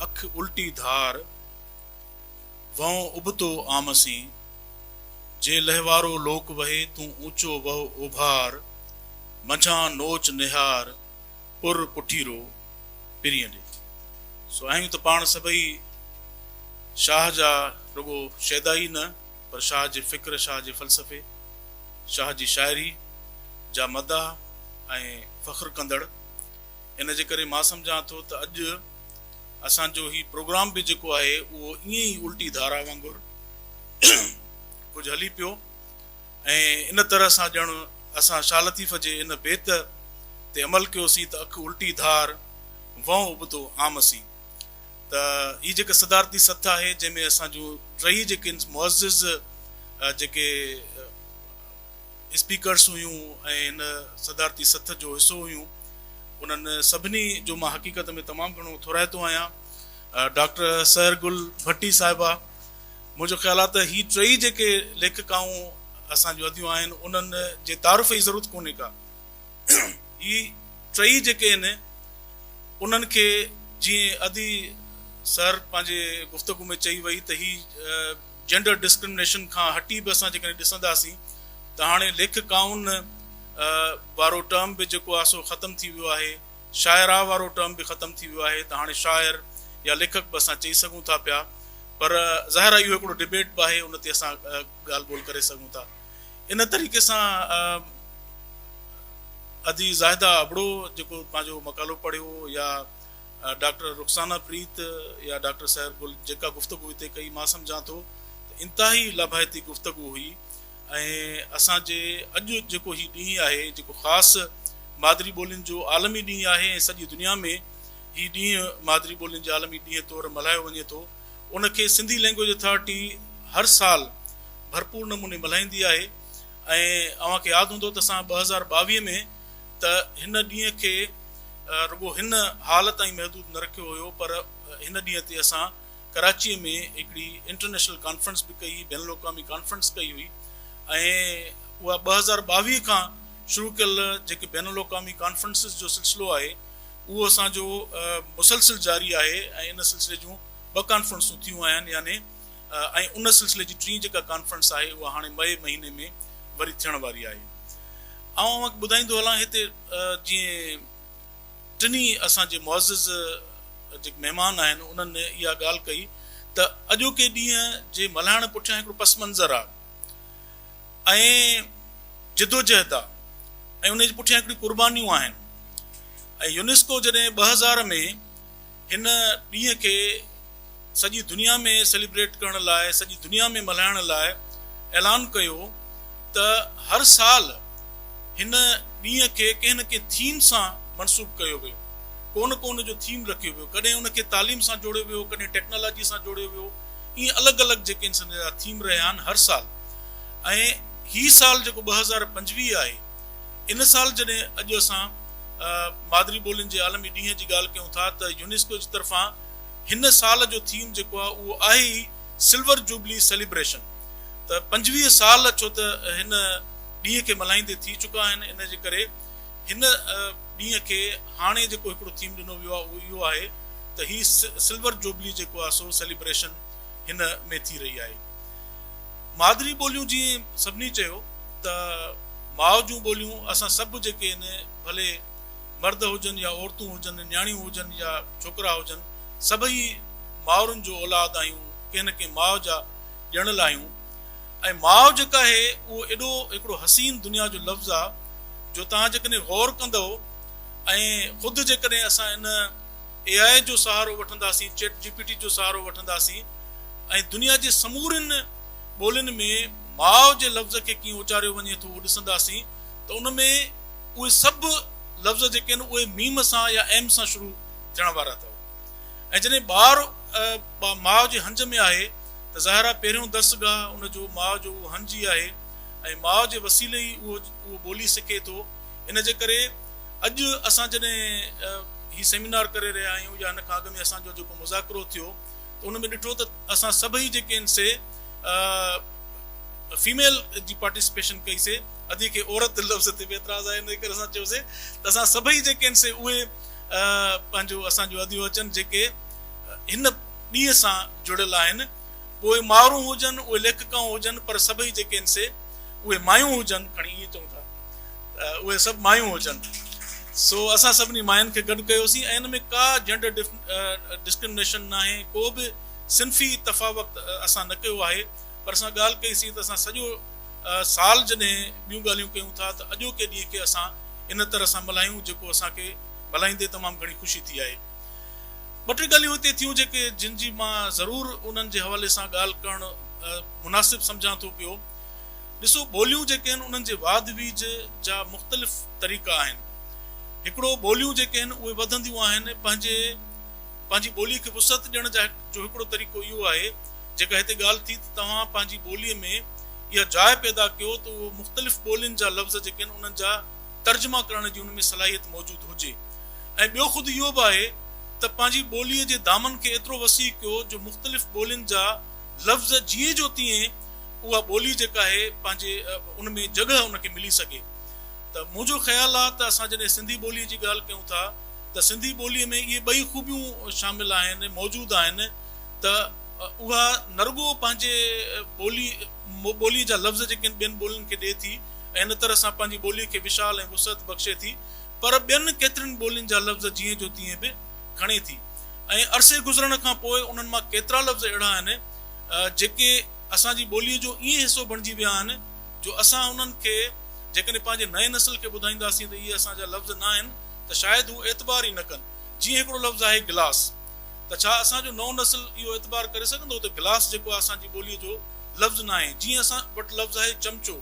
اک الٽي ڌار، وهون ابتو آمسين، جي لهوارو لوڪ وهي، تون اوچو وهه اوڀار، منجهان نوچ نهار، پر پٺيرو پرين ڏي. سو آهيون ته پاڻ سڀئي شاهه جا رڳو شيدا ئي نه پر شاهه جي فڪر، شاهه جي فلسفي، شاهه جي شاعري جا مداح ۽ فخر ڪندڙ. ان جي ڪري مان سمجهان ٿو ته اڄ. اسان جو هي پروگرام به جيڪو آهي اهو ائين ئي الٽي ڌارا وانگر ڪجهه هلي پيو ۽ ان طرح سان ڄڻ اسان شاهه لطيف جي ان بيت تي عمل ڪيوسين ته اک الٽي ڌار وهنء ابتو عام سي ته هي جيڪا صدارتي سٿ آهي جنهن ۾ اسان جون ٽئي جيڪي معزز جيڪي اسپيڪرس هيون ۽ هن صدارتي سٿ جو حصو هيون. انهن سڀني جو مان حقيقت ۾ تمام گهڻو ٿورائتو آهيان. ڊاڪٽر سحر گل ڀٽي صاحبه! منهنجو خيال آهي ته هي ٽيئي جيڪي ليکڪائون اسان جون اديون آهن، انهن جي تعارف جي ضرورت ڪونهي ڪا. هي ٽيئي جيڪي آهن، انهن کي جيئن ادي سحر پنهنجي گفتگو ۾ چئي وئي ته هي جينڊر ڊسڪرمنيشن کان هٽي به اسان جيڪڏهن ڏسنداسين ته هاڻي ليکڪائن وارو ٽرم به جيڪو آهي سو ختم ٿي ويو آهي، شاعرا وارو ٽرم به ختم ٿي ويو آهي ته هاڻي شاعر يا ليکڪ به اسان چئي سگهون ٿا پيا پر ظاهر آهي اهو هڪڙو ڊبيٽ به آهي ان تي اسان ڳالهه ٻولهه ڪري سگهون ٿا ان طريقي سان ادي زاهده ابڙو جيڪو پنهنجو مقالو پڙهيو يا ڊاڪٽر رخسانه پريت يا ڊاڪٽر سحر گل جيڪا گفتگو هتي ڪئي مان سمجهان ٿو ته انتهائي لاڀائتي گفتگو هئي ۽ اسان جي اڄ جيڪو هي ڏينهن آهي جيڪو خاص مادري ٻولين جو عالمي ڏينهن آهي ۽ سڄي دنيا ۾ هي ڏينهن مادري ٻولين جي عالمي ڏينهن طور ملهايو وڃي ٿو ان کي سنڌي لينگويج اٿارٽي هر سال ڀرپور نموني ملهائيندي آهي ۽ اوهان کي ياد هوندو ته اسان ٻه هزار ٻاويهه ۾ ته هن ڏينهن کي رڳو هن هال تائين محدود نه رکيو هيو پر هن ڏينهن تي اسان ڪراچيء ۾ هڪڙي انٽرنيشنل ڪانفرنس به ڪئي هئي، بين الاقوامي ڪانفرنس ڪئي هئي ۽ اها ٻه هزار ٻاويهه کان شروع ڪيل جيڪي بين الاقوامي ڪانفرنسز جو سلسلو آهي اهو اسان جو مسلسل جاري آهي ۽ ان سلسلي جون ٻه ڪانفرنسون ٿيون آهن يعني ۽ ان سلسلي جي ٽين جيڪا ڪانفرنس آهي اها هاڻي مئي مهيني ۾ وري ٿيڻ واري آهي آئون اوهان کي ٻڌائيندو هلان هتي جيئن ٽنهي اسان جي معزز جيڪي مهمان آهن انهن اها ڳالهه ڪئي ته اڄوڪي ڏينهن جي ملهائڻ پٺيان هڪڙو پس منظر آهي ۽ جدوجهد آهي ۽ ان جي پٺيان هڪڙي قربانيون آهن ۽ يونيسڪو جڏهن ٻه هزار ۾ هن ڏينهن کي سڄي دنيا ۾ سيليبريٽ ڪرڻ لاء سڄي دنيا ۾ ملهائڻ لاء اعلان ڪيو ته هر سال هن ڏينهن کي ڪنهن نه ڪنهن ٿيم سان منسوب ڪيو ويو ڪو نه ڪو ان جو ٿيم رکيو ويو ڪڏهن ان کي تعليم سان جوڙيو ويو ڪڏهن ٽيڪنالاجي سان جوڙيو ويو ائين الڳ الڳ جيڪي انسان جا ٿيم رهيا آهن هر سال ۽ هي سال جيڪو ٻه هزار پنجويهه آهي ان سال جڏهن اڄ اسان مادري ٻولين جي عالمي ڏينهن جي ڳالهه ڪيون ٿا ته يونيسڪو جي طرفان هن سال جو ٿيم جيڪو آهي اهو آهي ئي سلور جوبلي سيليبريشن ته پنجويهه سال ڇو ته هن ڏينهن کي ملهائيندي ٿي چڪا آهن ان جي ڪري هن ڏينهن کي هاڻي جيڪو هڪڙو ٿيم ڏنو ويو آهي اهو اهو آهي ته هي سلور جوبلي جيڪو آهي سو سيليبريشن هن ۾ ٿي رهي آهي. مادري ٻوليون جيئن سڀني چيو ته ماء جون ٻوليون اسان سڀ جيڪي آهن ڀلي مرد هجن يا عورتون هجن نياڻيون هجن يا ڇوڪرا هجن سڀئي مائرن جو اولاد آهيون ڪنهن نه ڪنهن ماء جا ڄڻل آهيون ۽ ماء جيڪا آهي اهو ايڏو هڪڙو حسين دنيا جو لفظ آهي جو توهان جيڪڏهن غور ڪندؤ ۽ خود جيڪڏهن اسان ان اي آء جو سهارو وٺنداسين، چيٽ جي پي ٽي جو سهارو وٺنداسين ۽ دنيا جي سمورين ٻولين ۾ ماء جي لفظ کي ڪيئن اچاريو وڃي ٿو اهو ڏسنداسين ته ان ۾ اهي سڀ لفظ جيڪي آهن اهي ميم سان يا ايم سان شروع ٿيڻ وارا اٿو ۽ جڏهن ٻار ماء جي هنج ۾ آهي ته ظاهر آهي پهريون درس گاهه ان جو ماء جو اهو هنج ئي آهي ۽ ماء جي وسيلي ئي اهو ٻولي سکي ٿو. ان جي ڪري اڄ اسان جڏهن هي سيمينار ڪري رهيا آهيون يا ان کان اڳ ۾ اسان جو جيڪو مذاڪرو ٿيو ته ان ۾ ڏٺو ته اسان سڀئي جيڪي آهن سي فيميل جي پارٽيسپيشن ڪئي سي ادي کي عورت لفظ تي به اعتراض آهي ان ڪري اسان چيو سي ته اسان سڀئي جيڪي آهن سي اهي پنهنجو اسان جو اديون اچن جيڪي هن ڏينهن سان جڙيل آهن پوء مارون هجن، اهي ليکڪائون هجن، پر سڀئي جيڪي آهن سي اهي مايون هجن، کڻي ائين چئون ٿا ته اهي سڀ مايون هجن. سو اسان سڀني ماين کي گڏ ڪيوسين ۽ ان ۾ ڪا جينڊر ڊسڪرمنيشن ناهي، ڪو به صنفي تفاوت اسان نه ڪيو آهي، پر اسان ڳالهه ڪئي سين ته اسان سڄو سال جڏهن ٻيون ڳالهيون ڪيون ٿا ته اڄوڪي ڏينهن کي اسان ان طرح سان ملهايون جيڪو اسان کي ملهائيندي تمام گهڻي خوشي ٿي آهي. ٻه ٽي ڳالهيون هتي ٿيون جيڪي جن جي مان ضرور انهن جي حوالي سان ڳالهه ڪرڻ مناسب سمجهان ٿو پيو. ڏسو ٻوليون جيڪي آهن انهن جي واڌ ويجهه جا مختلف طريقا آهن. هڪڙو ٻوليون جيڪي آهن اهي وڌنديون آهن پنهنجي پنهنجي ٻولي کي وسعت ڏيڻ جا جو هڪڙو طريقو اهو آهي جيڪا هتي ڳالهه ٿي ته توهان پنهنجي ٻولي ۾ اها جاء پيدا ڪيو ته اهو مختلف ٻولين جا لفظ جيڪي آهن انهن جا ترجما ڪرڻ جي ان ۾ صلاحيت موجود هجي ۽ ٻيو خود اهو به آهي ته پنهنجي ٻوليء جي دامن کي ايترو وسيع ڪيو جو مختلف ٻولين جا لفظ جيئن جو تيئن اها ٻولي جيڪا آهي پنهنجي ان ۾ جڳهه ان کي ملي سگهي ته منهنجو خيال آهي ته اسان جڏهن سنڌي ٻوليء جي ڳالهه ڪيون ٿا ته سنڌي ٻوليء ۾ اهي ٻئي خوبيون شامل آهن موجود آهن ته اها نرڳو پنهنجي ٻولي ٻوليء جا لفظ جيڪي آهن ٻين ٻولين کي ڏئي ٿي ۽ ان طرح سان پنهنجي ٻوليء کي وشال ۽ وسعت بخشي ٿي پر ٻين ڪيترين ٻولين جا لفظ جيئن جو تيئن به کڻي ٿي ۽ عرصي گذرڻ کان پوء انهن مان ڪيترا لفظ اهڙا آهن جيڪي اسان جي ٻوليء جو ائين حصو بڻجي ويا آهن جو اسان انهن کي جيڪڏهن پنهنجي نئين نسل کي ٻڌائينداسين ته اهي اسان جا لفظ ناهن ته شايد هو اعتبار ئي نه ڪن جيئن هڪڙو لفظ آهي گلاس. ته ڇا اسان جو نئون نسل اهو اعتبار ڪري سگهندو ته گلاس جيڪو آهي اسان جي ٻوليء جو لفظ ناهي جيئن اسان وٽ لفظ آهي چمچو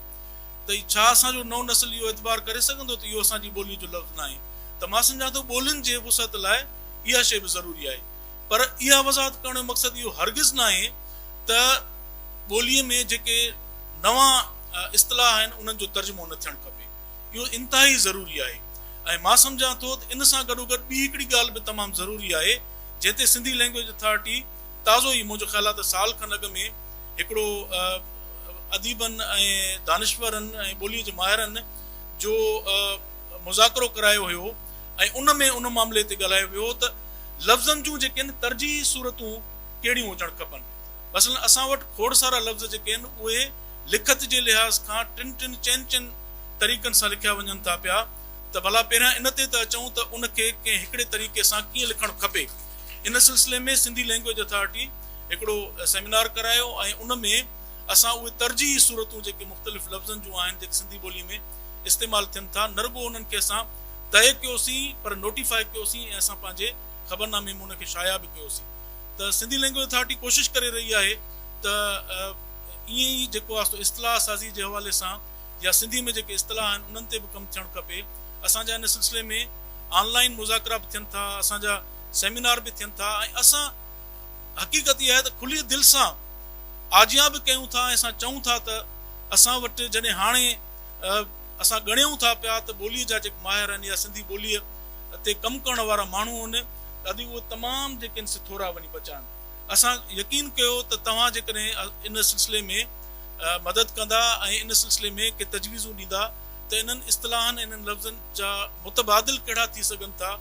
ته ڇا اسان جو نئون نسل اهو اعتبار ڪري سگهندو ته اهو اسان جي ٻوليء جو لفظ ناهي ته مان سمجهان ٿو ٻولين جي وسعت لاء اها شيء به ضروري آهي پر اها وضاحت ڪرڻ جو مقصد اهو هرگز ناهي ته ٻوليء ۾ جيڪي نوان اصطلاح آهن انهن جو ترجمو نه ٿيڻ کپي. اهو انتهائي ضروري آهي ۽ مان سمجهان ٿو ته ان سان گڏوگڏ ٻي هڪڙي ڳالهه به تمام ضروري آهي جنهن تي سنڌي لئنگويج اٿارٽي تازو ئي منهنجو خيال آهي ته سال کن اڳ ۾ هڪڙو اديبن ۽ دانشورن ۽ ٻوليء جي ماهرن جو مذاڪرو ڪرايو هيو ۽ ان ۾ ان معاملي تي ڳالهايو ويو هو ته لفظن جون جيڪي آهن ترجيحي صورتون ڪهڙيون هجڻ کپن مثلاً اسان وٽ کوڙ سارا لفظ جيڪي آهن اهي لکت جي لحاظ کان ٽن ٽن چئن چئن طريقن سان لکيا وڃن ٿا پيا ته ڀلا پهريان ان تي ته اچون ته ان کي ڪنهن هڪڙي طريقي سان ڪيئن لکڻ کپي. ان سلسلي ۾ سنڌي لئنگويج اٿارٽي هڪڙو سيمينار ڪرايو ۽ ان ۾ اسان اهي ترجيحي صورتون جيڪي مختلف لفظن جون آهن جيڪي سنڌي ٻولي ۾ استعمال ٿين ٿا نه رڳو انهن کي اسان طئي ڪيوسين پر نوٽيفائي ڪيوسين ۽ اسان پنهنجي خبرنامي ۾ ان کي شايع به ڪيوسين ته سنڌي لئنگويج اٿارٽي ڪوشش ڪري رهي آهي ته ائين ئي جيڪو واسطو اصطلاح سازي جي حوالي سان يا سنڌي ۾ جيڪي اصطلاح آهن انهن تي به ڪم ٿيڻ کپي. اسان جا ان سلسلي ۾ آن لائين مذاڪرا به ٿين ٿا، اسان جا سيمينار به ٿين ٿا ۽ اسان حقيقت اها آهي ته کلي دل سان آجيان به ڪيون ٿا ۽ اسان چئون ٿا ته اسان وٽ جڏهن هاڻي اسان ڳڻيون ٿا پيا ته ٻولي جا جيڪي ماهر آهن يا سنڌي ٻولي تي ڪم ڪرڻ وارا ماڻهو آهن ته اڄ اهي تمام جيڪي آهن سي ٿورا وڃي بچا آهن. اسان يقين ڪيو ته توهان جيڪڏهن ان سلسلي ۾ مدد ڪندا ۽ ان سلسلي ۾ ڪي تجويزون ڏيندا ته انهن اصطلاحن ۽ انهن لفظن جا متبادل ڪهڙا ٿي سگهن ٿا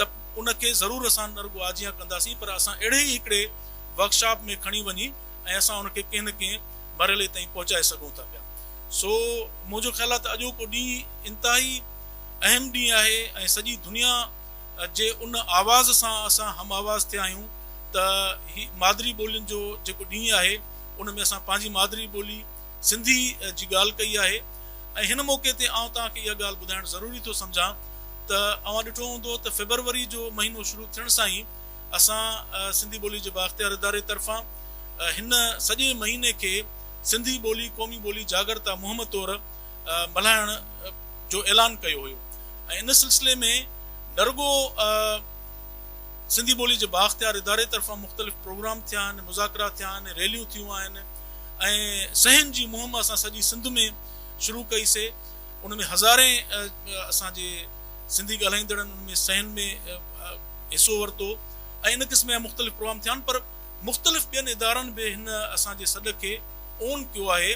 ته ان کي ضرور اسان نه رڳو آجيان ڪنداسين پر اسان اهڙي ئي هڪڙي ورڪشاپ ۾ کڻي وڃي ۽ اسان ان کي ڪنهن نه ڪنهن مرحلي تائين پهچائي سگهون ٿا پيا سو منهنجو خيال آهي ته اڄوڪو ڏينهن انتهائي اهم ڏينهن آهي ۽ سڄي دنيا جي ان آواز سان اسان هم آواز ٿيا آهيون ته هي مادري ٻولين جو جيڪو ڏينهن آهي ان ۾ اسان پنهنجي مادري ٻولي سنڌي جي ڳالهه ڪئي آهي ۽ هن موقعي تي آئون توهان کي اها ڳالهه ٻڌائڻ ضروري ٿو سمجهان ته اوهان ڏٺو هوندو ته فيبروري جو مهينو شروع ٿيڻ سان ئي اسان سنڌي ٻولي جي بااختيار اداري طرفان هن سڄي مهيني کي سنڌي ٻولي قومي ٻولي جاڳرتا مهم طور ملهائڻ جو اعلان ڪيو هيو ۽ ان سلسلي ۾ نه رڳو سنڌي ٻولي جي بااختيار اداري طرفان مختلف پروگرام ٿيا آهن، مذاڪرا ٿيا آهن، ريليون ٿيون آهن ۽ صحن جي مهم اسان سڄي سنڌ ۾ شروع ڪئي سي ان ۾ هزارين اسان جي سنڌي ڳالهائيندڙن ان ۾ صحن ۾ حصو ورتو ۽ ان قسم جا مختلف پروگرام ٿيا آهن پر مختلف ٻين ادارن به هن اسان جي سڏ کي اون ڪيو آهي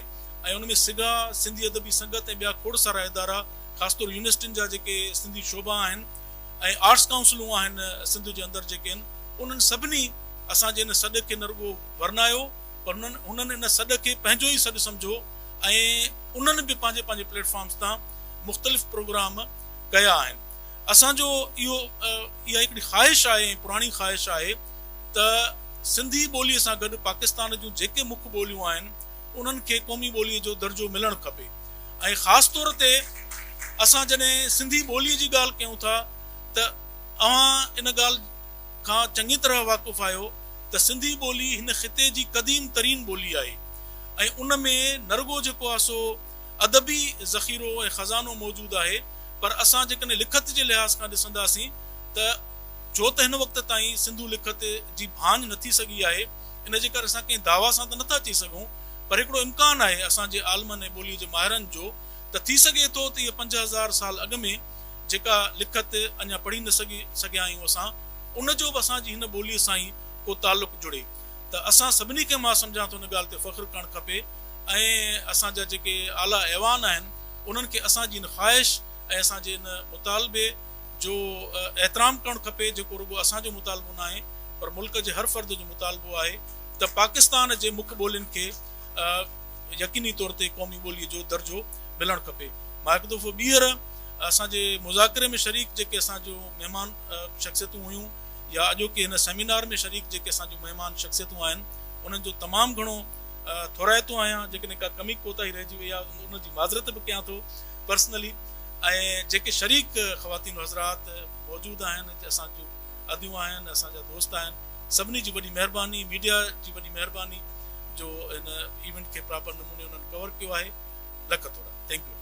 ۽ ان ۾ سگا، سنڌي ادبي سنگت ۽ ٻيا کوڙ سارا ادارا خاص طور يونيورسٽين جا جيڪي سنڌي شعبا آهن ۽ آرٽس ڪائونسلون آهن سنڌ جي اندر جيڪي آهن انهن سڀني اسان جي ان سڏ کي نه رڳو ورنايو پر هنن ان سڏ کي پنهنجو ئي سڏ سمجهو ۽ انهن به پنهنجي پنهنجي پليٽ فارمز تان مختلف پروگرام ڪيا آهن. اسان جو اهو اها هڪڙي خواهش آهي ۽ پراڻي خواهش آهي ته سنڌي ٻوليء سان گڏ پاڪستان جون جيڪي مک ٻوليون آهن انهن کي قومي ٻوليء جو درجو ملڻ کپي ۽ خاص طور تي اسان جڏهن سنڌي ٻوليء جي ڳالهه ڪيون ٿا ته اوهان ان ڳالهه کان چڱي طرح واقف آهيو ته سنڌي ٻولي هن خطي جي قديم ترين ٻولي آهي ۽ ان ۾ نرڳو جيڪو آهي سو ادبي ذخيرو ۽ خزانو موجود آهي پر اسان جيڪڏهن لکت جي لحاظ کان ڏسنداسين ته جو ته هن وقت تائين سنڌو لکت جي ڀاڃ نه ٿي سگهي آهي ان جي ڪري اسان ڪنهن دعويٰ سان ته نه ٿا چئي سگهون پر هڪڙو امڪان آهي اسان جي عالمن ۽ ٻوليء جي ماهرن جو ته ٿي سگهي ٿو ته اها پنج هزار سال اڳ ۾ جيڪا لکت اڃا پڙهي نه سگهي سگهيا آهيون اسان ان جو به اسان جي هن ٻوليء سان ئي ڪو تعلق جڙي. ته اسان سڀني کي مان سمجهان ٿو ان ڳالهه تي فخر ڪرڻ کپي ۽ اسان جا جيڪي اعليٰ ايوان آهن انهن کي اسان جي ان خواهش ۽ اسان جي ان مطالبي جو احترام ڪرڻ کپي جيڪو رڳو اسان جو مطالبو ناهي پر ملڪ جي هر فرد جو مطالبو آهي ته پاڪستان جي مک ٻولين کي يقيني طور تي قومي ٻولي جو درجو ملڻ کپي. مان هڪ دفعو ٻيهر اسان جي مذاڪري ۾ شريڪ جيڪي اسان جون مهمان شخصيتون هيون. يا اڄوڪي هن سيمينار ۾ شريڪ جيڪي اسان جون مهمان شخصيتون آهن انهن جو تمام گهڻو ٿورائتو آهيان جيڪڏهن ڪا ڪمي ڪوتاهي رهجي وئي آهي ان جي معذرت به ڪيان ٿو پرسنلي ۽ جيڪي شريڪ خواتين حضرات موجود آهن اسان جون اديون آهن اسان جا دوست آهن سڀني جي وڏي مهرباني ميڊيا جي وڏي مهرباني جو هن ايونٽ کي پراپر نموني انهن ڪور ڪيو آهي لک ٿورا ٿينڪ يو